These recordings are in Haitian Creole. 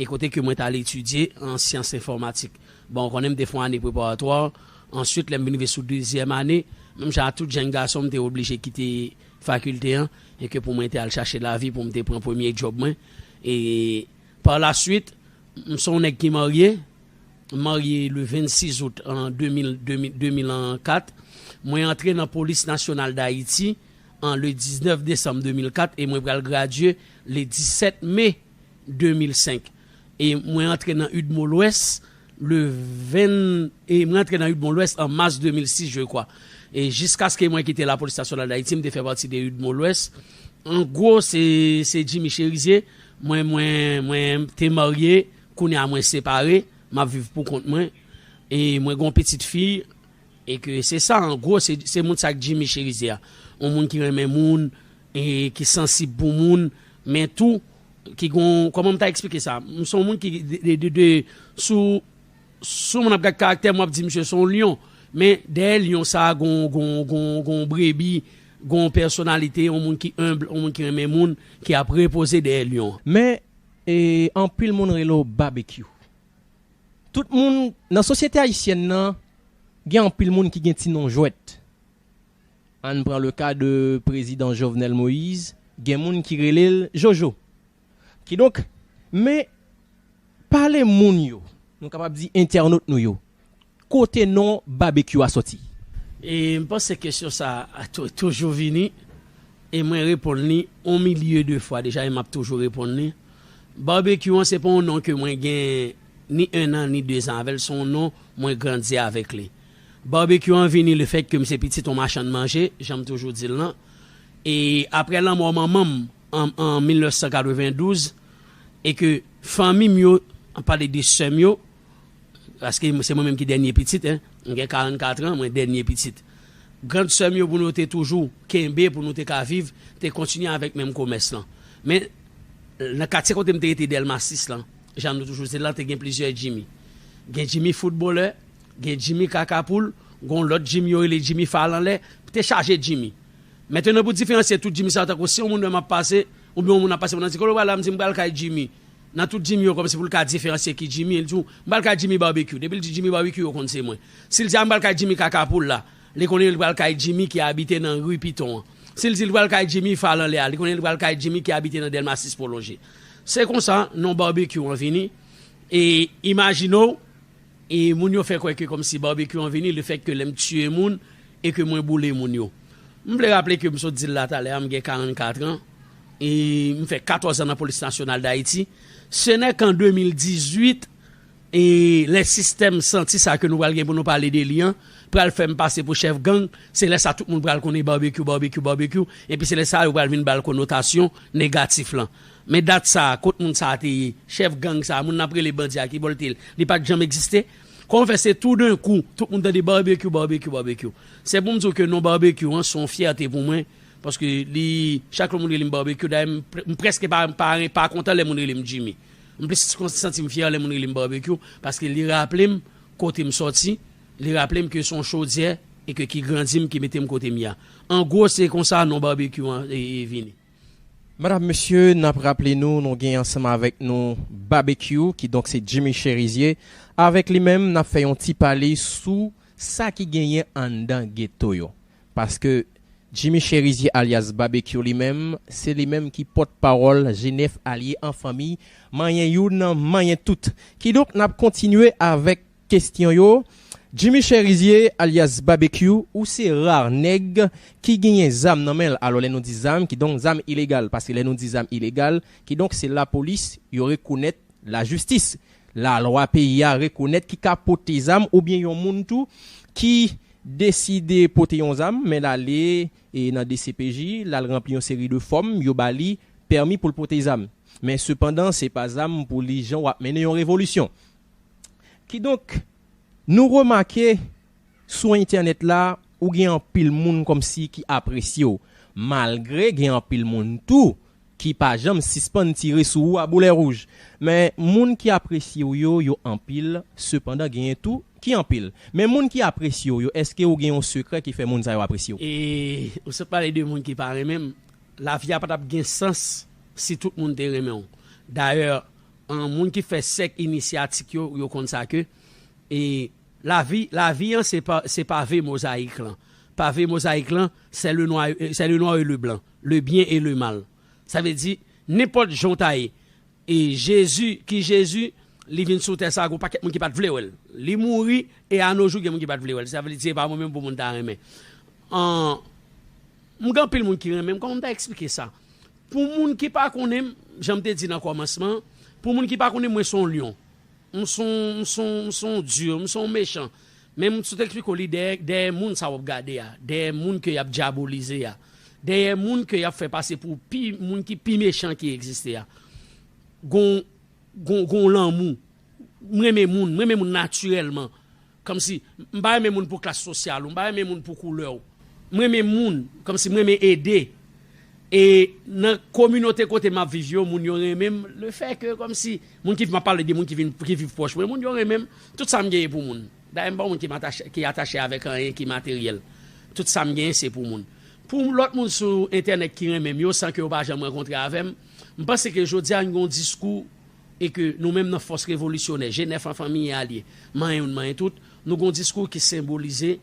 E kote ke mwen t al etidye an syans enfòmatik. Bon, ou konnen m te fon ane preparatwa, answit lè m vin rive sou dezyèm ane, menm jan a tout jenn gason m te oblije kite fakilte an e ke pou mwen te al chache lavi pou m te pran premye djòb mwen. E pa la swit, m son w nèg ki marye, m marye le 26 out an 2000, 2000 an 4. Mwen antre nan polis nasyonal dayiti an le 19 desanm 2004 e mwen pral gradye le 17 me. 2005 e mwen antre nan udmo lwès le 20 e mwen antre nan udmo lwès an mas 2006 je kwa e jiskaske mwen kite lapolis nasyonal dayiti m te fè pati de udmo lwès an gwo se se jimi cherizye mwen mwen mwen te marye kounye a mwen separe m ap viv pou kont mwen e mwen gen yon pitit fi e ke se sa an gwo se se moun sa k jimi cherizye a yon moun ki renmen moun e ki sansib pou moun men tou Ki gon, kòman m ta eksplike sa? M son moun ki de, sou yon moun ap gad karaktè m wap di misye son lyon, men dèyè lyon sa gon, gon, gon, gon brebi, gon pèsonalite, yon moun ki enb, yon moun ki renmen moun, ki ap repoze dèyè lyon. Men, e anpil moun rele w Babekyou. Tout moun, nan sosyete ayisyèn nan, gen anpil moun ki gen ti non jwèt. Ann pran le ka de prezidan Jovenel Moïse, gen moun ki rele l Jojo. Kidonk, men pale moun yo, nou kapab di entènot nou yo, kote non Babekyou a sòti? E m panse kesyon sa a toujou vini e mwen reponn li on milye de fwa deja e m ap toujou reponn li. Babekyou an se pa on non ke mwen gen ni ennan ni dezan avè l, se on non mwen grandi avèk li. Barbecue an vini le fait que m se pitit on machann manje, jan m toujou di l lan. E aprè lanmò manman m an 1992, e ke fanmi m yo, an pale de sè m yo, paske se mwen menm ki dènye pitit, m gen 44 ans, mwen dènye pitit. Grand sè m yo pou nou te toujou kenbe, pou nou te ka viv, te kontinye avèk menm komès lan. Men, nan katye kote m te rete Delma 6 lan, Jan nou toujou di l lan te gen plizyè Jimmy. Gen Jimmy foutbolè, gen Jimmy kaka poul, gen yon lòt Jimmy yo rele Jimmy fal anlè, te chaje Jimmy. Mentenan pou diferansye tout Jimmy sa yo tankou si yon moun wè m ap pase, oubyen yon moun ap pase pou nan di kote w pral la m di m pral kay Jimmy. Nan tout Jimmy yo kòmsi pou l ka diferansye ki Jimmy, li di w m pral kay Jimmy Barbecue. Depi l di Jimmy Barbecue yo konn se mwen. Si l di a m pral kay Jimmy kaka poul la, li konnen li pral kay Jimmy ki abite nan ri Piton an. Si l di li pral kay Jimmy fal anlè a, li konnen li pral kay Jimmy ki abite nan Dèlma 6 pwolonje. Se konsa non Barbecue an vini e imajine w e moun yo fè kwè ke kòmsi Barbecue an vini lefèt ke lè m tiye moun e ke mwen boule moun yo. M vle raple ke m sot di l la talè a m gen 44 an e m fè 14 an nan Polis Nasyonal Dayiti. Se nèk an 2018 E lè sistèm santi sa ke nou pral gen pou nou pale de li an pral fè m pase pou chèf gang, se lè sa tout moun pral konnen Barbecue, Barbecue, Barbecue, epi se lè sa yo pral vin ba l konotasyon negatif lan. Men dat sa a, kot moun sa a te ye? Chèf gang sa a, moun n ap rele bandi a, ki bò l te ye? Li pa t janm egziste? Kòman fè se tou den kou, tout moun tande Barbecue, Barbecue, Barbecue? Se pou m di w ke non Barbecue an se yon fyète pou mwen, paske li, chak lè moun rele m Barbecue, dayè m prèske pa kontan lè moun rele m Jimmy. M plis santi m fyè lè moun rele m Barbecue paske li raple m kote m sòti, li raple m ke se yon chodyè e ke ki grandi m, ki mete m kote m ye a. An gwo se konsa non Barbecue an vini. Madam, mesye, n ap raple nou, nou gen ansanm avèk nou Barbecue, kidonk se Jimmy Cherizier. Avèk li menm, n ap fè yon ti pale sou sa ki genyen anndan geto yo. Paske Jimmy Chérizier alyas Babekyou li menm, se li menm ki pòt pawòl G9 alye an fanmi, manyen youn, manyen tout. Kidonk n ap kontinye avèk kestyon yo. Jimmy Chérizier alyas Babekyou, ou se ra nèg ki genyen zam nan men l. Alò lè nou di zam, kidonk zam ilegal. Paske lè nou di zam ilegal, kidonk se lapolis yo rekonèt lajistis Lalwa peyi a rekonèt ki ka pote zam oubyen yon moun tou ki deside pote yon zam men l ale nan dcpj l al ranpli yon seri de fòm yo ba li pèmi pou l pote zam men sepandan se pa zam pou li jan w ap mennen yon revolisyon kidonk nou remake Sou entènèt la, ou gen anpil moun kòmsi ki apresye w, malgre gen anpil moun tou ki pa janm sispann tire sou ou a boulè wouj. Men, moun ki apresye w yo, yo anpil, sepandan genyen tou ki anpil. Men moun ki apresye w yo, èske ou gen yon sekrè ki fè moun sa yo apresye w? E, ou sot pale de moun ki pa renmen m. Lavi a pa t ap gen sans si tout moun te renmen w. Dayè, moun ki fè sèk inisyatik yo, yo konn sa ke, e, Lavi, lavi an se pa, se pave mozaik lan. Pave mozaik lan, sè le nwa, sè le nwa e le blan, le byen e le mal. Sa vle di, nenpòt jan w ta ye, e Jezi, ki Jezi, li vin sou tè sa a, gen yon pakèt moun ki pa t vle wè l. Li mouri, e anojou gen moun ki pa t vle wè l. Sa vle di se pa mwen menm pou moun ta renmen. An, m gen anpil moun ki renmen m. Kòman m ta esplike sa? Pou moun ki pa konnen m, jan m te di nan kòmansman an, pou moun ki pa konnen m, mwen se yon lyon. M s on m s on m s on dur, m s on mechan. Men m sot eksplike w li dèyè dèyè moun sa w ap gade a, dèyè moun ke y ap dyabolize a, dèyè moun ke y ap fè pase pou pi moun ki pi mechan ki egziste a, gon gon gon lanmou. M renmen moun, m renmen moun natirèlman. Kòmsi, m pa renmen moun pou klas sosyal ou, m pa renmen moun pou koulè ou. M renmen moun, kòmsi m renmen ede. E nan kominote kote m ap viv yo, moun yo renmen m lefèke kòmsi moun ki, m ap pale de moun ki vin, ki viv pwòch mwen, moun yo renmen m. Tout sa m genyen pou moun. Dayè m pa yon moun ki matache, ki atache avèk anyen ki materyèl. Tout sa m genyen se pou moun. Pou lòt moun sou entènèt ki renmen m yo san ke yo pa janm rankontre avè m, m panse ke jodi a n gen yon diskou, e ke nou menm nan fòs revolisyonè Jenèf an fanmiye alye manyen youn manyen tout, nou gen yon diskou ki senbolize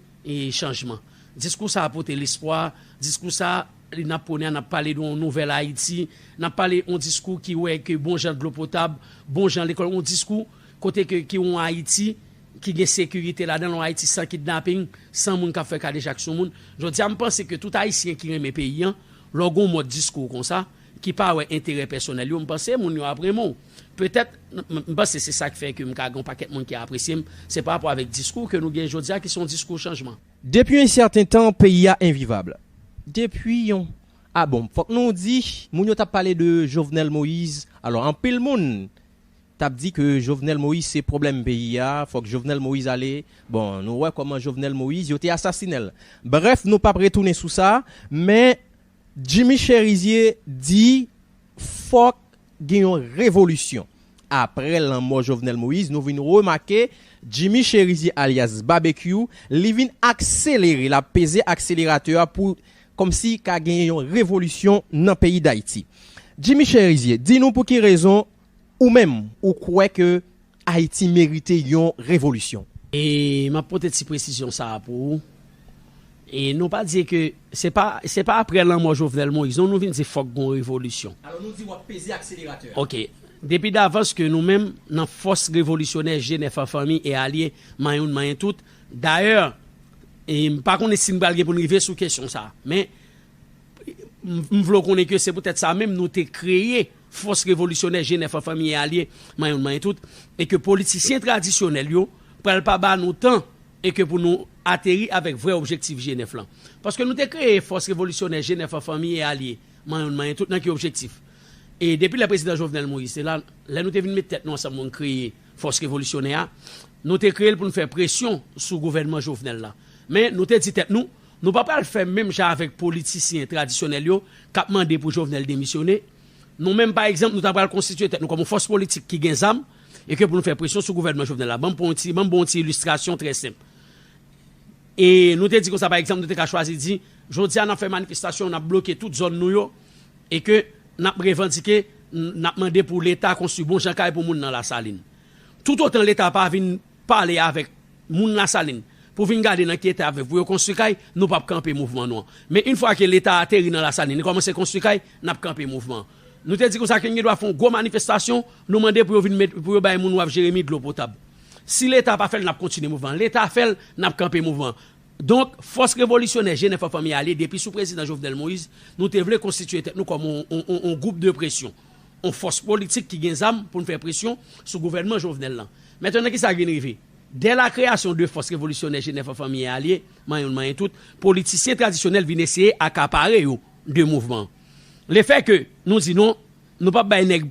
chanjman. Diskou sa a pote lespwa, diskou sa a n ap pwone a, n ap pale de yon nouvèl Ayiti, n ap pale yon diskou ki wè ke bon jan dlo potab, bon jan lekòl, yon diskou kote ke ki yon Ayiti ki gen sekirite ladan l, yon Ayiti san kidnaping, san moun k ap fè kadejak sou moun. Jodi a m panse ke tout Ayisyen ki renmen peyi an, lè w gen yon mòd diskou konsa, ki pa wè enterè pèsonèl yo, m panse moun yo ap renmen w. Petèt, m panse se sa k fè ke m ka gen yon pakèt moun ki apresye m, se parapò avèk diskou ke nou gen jodi a ki se yon diskou chanjman. Depi yon sèten tan, peyi a envivab. Depi yon, a bon, fòk nou di, moun yo t ap pale de Jovenel Moïse, alò anpil moun t ap di ke Jovenel Moïse se pwoblèm peyi a, fòk Jovenel Moïse ale, bon, nou wè kòman Jovenel Moïse, yo te asasinen l. Brèf, nou p ap retounen sou sa, men. Jimmy Cherizier di fòk gen yon revolisyon. Aprè lanmò Jovenel Moïse nou vin remake Jimmy Cherizier alyas Babekyou li vin akselere lap peze akseleratè a pou kòmsi ka gen yon revolisyon nan peyi Dayiti. Jimmy Cherizier di nou pou ki rezon Ou menm, ou kwè ke Ayiti merite yon revolisyon? E m ap pote ti presizyon sa a pou ou, e nou pa di ke se pa, se pa aprè lanmò Jovenel Moïse non nou vin di fòk gen yon revolisyon. Alò nou di w ap peze akseleratè a. Ok. Depi davans ke nou menm nan fòs revolisyonè Jenèf an fanmi e alye man youn man tout, dayè, e m pa konnen si n pral gen pou n rive sou kesyon sa a, men m vle w konnen ke se poutèt sa menm nou te kreye fòs revolisyonè Jenèf an fanmiye alye man youn man tout e ke politisyen tradisyonèl yo pral pa ba nou tan e ke pou nou ateri avèk vrè objektif Jenèf lan. Paske nou te kreye fòs revolisyonè Jenèf an fanmiye alye man youn man tout nan ki objektif? E depi lè prezidan Jovenel Moïse te la, lè nou te vin met tèt nou ansanm pou nou kreye fòs revolisyonè a, nou te kreye l pou nou fè presyon sou gouvènman Jovenel la. Men nou te di tèt nou. Nou pa pral fè menm jan avèk politisyen tradisyonèl yo k ap mande pou Jovenel demisyone. Nou menm, pa egzanp, nou ta pral konstitye tèt nou kòm yon fòs politik ki gen zam e ke pou nou fè presyon sou gouvènman Jovenel la. Ban m pran yon ti, ban m ba w yon ti ilistrasyon trè senp. E nou te di konsa, pa egzanp, nou te ka chwazi di, Jodi a, n ap fè manifestasyon, n ap bloke tout zòn nou yo e ke n ap revandike, n ap mande pou Leta konstwi bon jan kay pou moun nan Lasalin. Toutotan Leta pa vin. Pale avèk Moun lasalin pou vin gade nan ki eta ap vèv pou yo konstwi kay nou pap kanpe mouvman nou an men yn fwa ke leta ateri nan lasalin li kòmanse konstwi kay nap kanpe mouvman an nou te di konsa ke n gen dwa fè yon gwo manifestasyon nou mande pou yo vin met pou yo bay moun waf jeremi dlo potab si leta pa fèl nap kontinye mouvman an leta fèl nap kanpe mouvman an donk fòs revolisyonè jenè fò fanmi ale depi sou prezidan jovenel moïse nou te vle konstitiye tèt nou kòm yon yon gwoup de presyon yon fòs politik ki gen zam pou n fè presyon sou gouvènman Jovenel lan. Men tande kisa k vin rive, dè la kreyasyon de fòs revolisyonè Jenèf an fanmi e alye, manyen l manyen tout, politisyen tradisyonèl vin eseye akapare yo de mouvman an. Le fè ke nou di non, nou p ap bay nèg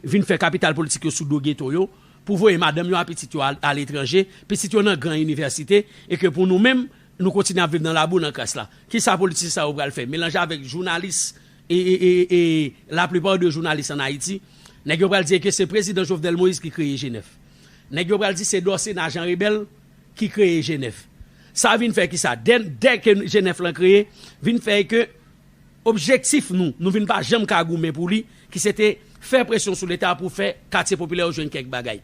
vin fè kapital politik yo sou do geto yo, pou voye madanm yo a pitit yo aletranje, pitit yo nan gran inivèsite, e ke pou nou menm, nou kontinye ap viv nan labou nan kras la. Kisa politisyen sa yo pral fè? Melanje avèk jounalis e la plupart de journaliste en Haïti nèg yo pral di eke se prezidan Jovenel Moïse ki kreye Genève nèg yo pral di se Dorcéna Jean Rebel ki kreye Genève sa vin fè kisa dè ke Genève lan kreye vin fè eke objektif nou nou vin pa janm ka goumen pou li ki se te fè presyon sou leta pou fè katye popilè yo jwenn kèk bagay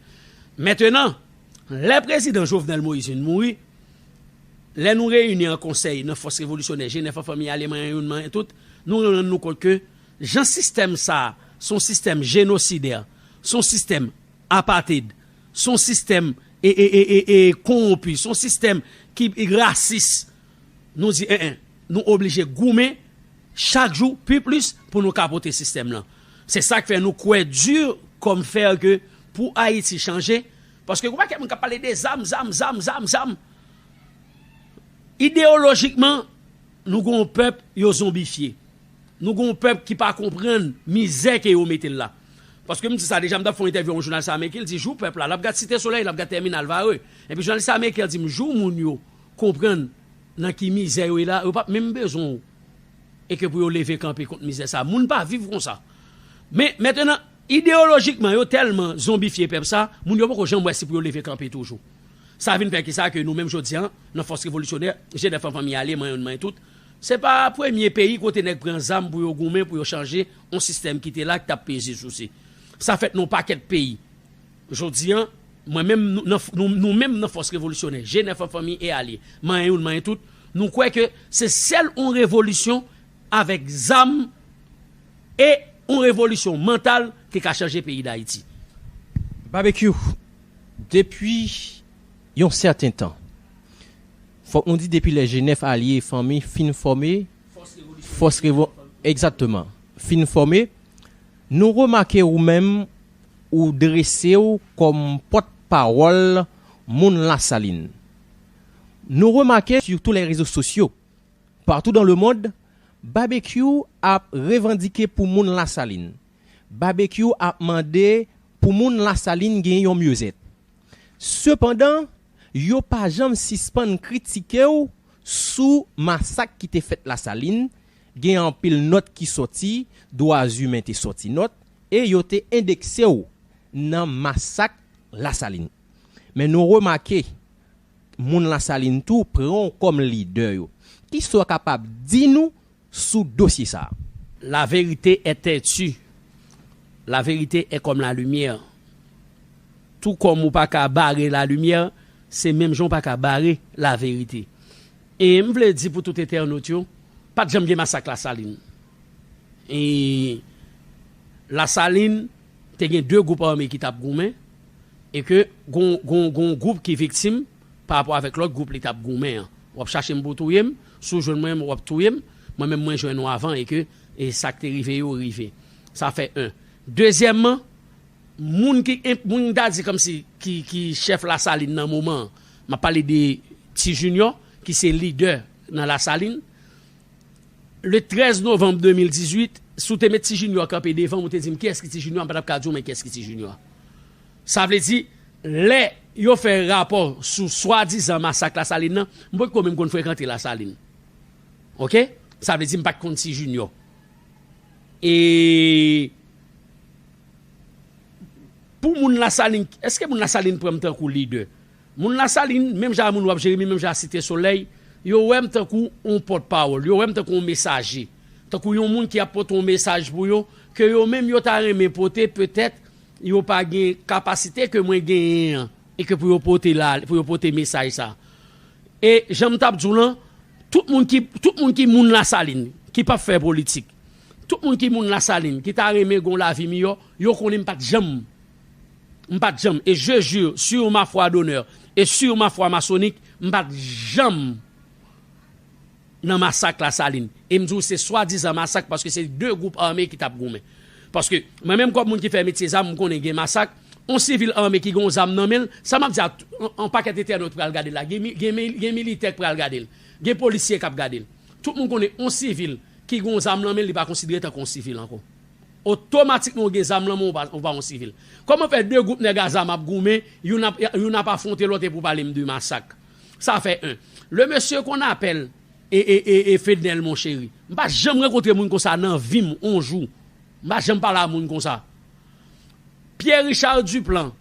mentenan. Lè prezidan Jovenel Moïse vin mouri, lè nou reyini an konsèy nan fòs revolisyonè Jenèf an fanmi aleman an youn manyen tout, nou rann nou kont ke jan sistèm sa a s on sistèm jenosidè, s on sistèm apateyd, s on sistèm kowonpi, s on sistèm ki rasis. Nou di en en, nou oblije goumen chak jou pi plis pou nou kapote sistèm lan. Se sa k fè nou kwè dur comme fer ke pou Ayiti chanje, paske gen yon pakèt moun k ap pale de zam, zam, zam, zam, zam. Ideyolojikman, nou gen yon pèp yo zonbifye. Nou gen yon pèp ki pa konprann mizè ke yo mete l la. Paske m di sa deja, m t ap fè yon entèvyou ak yon jounalis ameriken, l di jou pèp la, l ap gad Site Solèy, l ap gad Tèminal Varreux. Epi jounalis ameriken an di m jou moun yo konprann nan ki mizè yo ye la, yo pap menm bezwen w e ke pou yo leve kanpe kont mizè sa. Moun pa viv konsa. Men, mentenan, ideyolojikman yo tèlman zonbifye pèp sa, moun yo poko janm wè si pou yo leve kanpe toujou. Sa vin fè ki sa ke nou menm jodi an, nan Fòs Revolisyonè, Jenèf an Fanmi Ale, mwen youn mwen tout, se pa premye peyi kote nèg pran zam pou yo goumen pou yo chanje yon sistèm ki te la ki t ap peze souse. Sa fèt nan yon pakèt peyi. Jodi an, mwen menm, nou menm nan Fòs Revolisyonè, G9 an fanmi e alye, manyen youn manyen tout, nou kwè ke se sèl yon revolisyon avèk zam e yon revolisyon mantal ki ka chanje peyi Dayiti. Babekyou, depi yon sèten tan, fòk nou di depi lè G9 alye e fanmi fin fòme Fòs Revolisyonè, egzatteman, fin fòme, Nou remake ou menm ou drese w kòm pòt pawòl moun Lasalin. Nou remake sur tous les réseaux sociaux, partout dans le monde, Babekyou ap revandike pou moun Lasalin. Babekyou ap mande pou moun Lasalin gen yon myozèt. Sepandan, yo pa janm sispann kritike w sou masak ki te fèt Lasalin, Gen anpil nòt ki sòti, dwazimen te sòti nòt e yo te endekse w nan masak Lasalin. Men nou remake moun Lasalin tou pran w kòm lidè yo. Kisa w kapab di nou sou dosye sa a? La vérité est têtue, la vérité est comme la lumière. Tou kòm ou pa ka bare la lumière, se menm jan ou pa ka bare la vérité. E m vle di pou tout entènot yo, pat janm gen masak Lasalin. E Lasalin te gen 2 gwoup ame ki tap goumen e ke gon yon gwoup ki viktim pa rapò avèk lòt gwoup li tap goumen an. W ap chache m pou w touye m, si w jwenn mwen w ap touye m, mwen menm mwen jwenn ou avan e ke sa k te rive yo rive. Sa fè 1. Dezyèmman, moun ki moun m ta di kòmsi ki chèf Lasalin nan moman an, M ap pale de Ti Jinyò ki se lidè nan Lasalin. Le 13 novanm 2018, si w te met Ti Jinyò kanpe devan m, ou te di m kiyès ki Ti Jinyò, m pa t ap ka di w men kiyès ki Ti Jinyò. Sa vle di, lè yo fè rapò sou swadizan masak Lasalin nan, m potko menm konn frekante Lasalin. Oke? Sa vle di m pa t konn Ti Jinyò. E Pou moun lasalin eske moun lasalin pranm tankou lidè moun lasalin menm jan a moun wap jeremi menm jan a site solèy yo wèm tankou yon pòt pawòl yo wèm tankou yon mesaje tankou yon moun ki ap pote yon mesaj pou yo ke yo menm yo ta renmen pote petèt yo pa gen kapasite ke mwen genyen an e ke pou yo pote la pou yo pote mesaj sa e janm tap diw lan tout moun ki tout moun ki moun lasalin ki pap fè politik Tout moun ki moun lasalin ki ta renmen gon lavi miyò yo konnen m pat janm m pat janm e je jure sur ma foi d'honneur et sur ma foi maçonnique m pat janm nan masak lasalin e m di w se swadizan masak paske se 2 gwoup ame ki tap goumen paske mwen menm kòm moun ki fè metye zam m konnen gen masak on sivil ame ki gen on zam nan men l sa map di a on pakèt entènot pral gade l la gen gen militè k pral gade l gen polisye kap gade l tout moun konnen on sivil ki gen yon zam lan men l li pa konsidere tankou yon sivil ankò. Otomatikman ou gen zam lan men ou pa yon sivil. Kòman fè 2 gwoup nèg azame ap goumen, youn ap afwonte lòt epi w pale m de masak? Sa fè 1. Le mesye qu'on appelle ee Fednel mon chéri, m pa janm rankontre moun konsa nan vi m yon jou. M pa janm pale a moun konsa. Pierre Richard Duplan,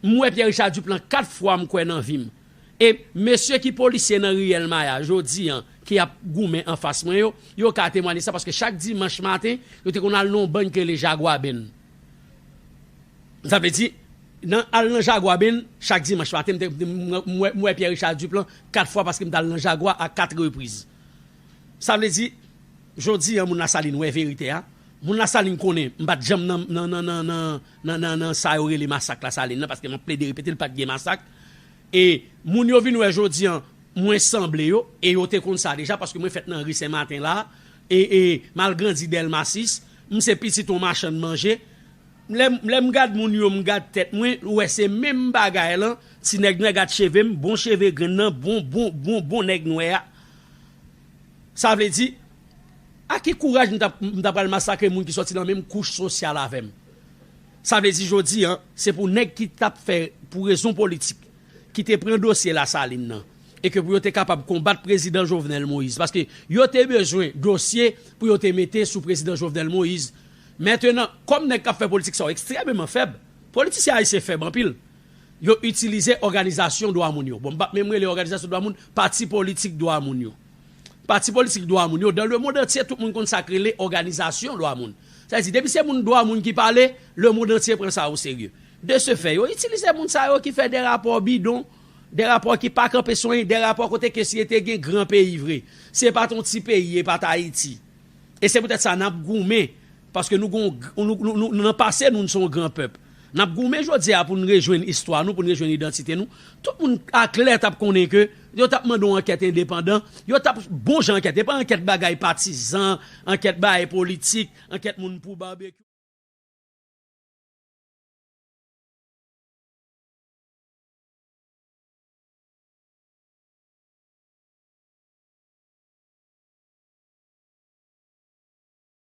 m wè Pierre Richard Duplan 4 fwa m kwè nan vi m. E mesye ki polisye nan riyèl Maya jodi an ki ap goumen anfas mwen yo, yo ka temwanye sa paske chak dimanch maten yo te konn al nan yon bany ki rele Jaguaben. Sa vle di, nan al nan Jaguaben chak dimanch maten m te m wè m wè Pierre Richard Duplan 4 fwa paske m t al nan Jagua a 4 repriz. Sa vle di, jodi an moun Lasalin wè verite a, Moun la salin konnen m pat janm nan nan nan nan sa yo rele masak la salin la paske map plede repete l pat gen masak e moun yo vin wè jodi an mwen sanble yo e yo te konn sa deja paske mwen fèt nan ri sen maten la e e mal grandi delma 6 m se pitit yon machann manje lè m gad moun yo m gad tèt mwen ou wè se menm bagay lan ti nèg nwè gad cheve m bon cheve grenn nan bon bon bon bon nèg nwè a. Sa vle di, ak ki kouraj m ta pral masakre moun ki sòti nan menm kouch sosyal avè m? Sa vle di jodi a, se pou nèg ki t ap fè pou rezon politik, ki te pran dosye Lasalin nan, e ke pou yo te kapab konbat prezidan Jovenel Moïse, paske yo te bezwen dosye pou yo te mete sou prezidan Jovenel Moïse. Mentenan, kòm nèg k ap fè politik sa yo ekstrèmeman fèb, politisyen ayisyen fèb anpil, Yo itilize òganizasyon dwa moun yo. Bon, m pa p menm rele òganizasyon dwa moun, pati politik dwa moun yo. Pati politik dwa moun yo, dan lemond antye tout moun konn sa k rele òganizasyon dwa moun. Sa vle di, depi se moun dwa moun ki pale, lemond antye pran sa oserye. De se fè, yo itilize moun sa yo ki fè de rapò bidon, de rapò ki pa kanpe sou anyen, de rapò kote ke si e te gen gran peyi vre, si e pa t yon ti peyi, e pa t Ayiti. E se poutèt sa n ap goumen Paske nou gon, nou nan pase nou, nou se yon gran pèp. N ap goumen jodi a pou n rejwenn istwa nou, pou n rejwenn idantite nou. Tout moun aklè t ap konnen ke yo t ap mande yon ankèt endepandan, yo t ap, bon jan ankèt, e pa ankèt bagay patizan, ankèt bagay politik, ankèt moun pou barbecue.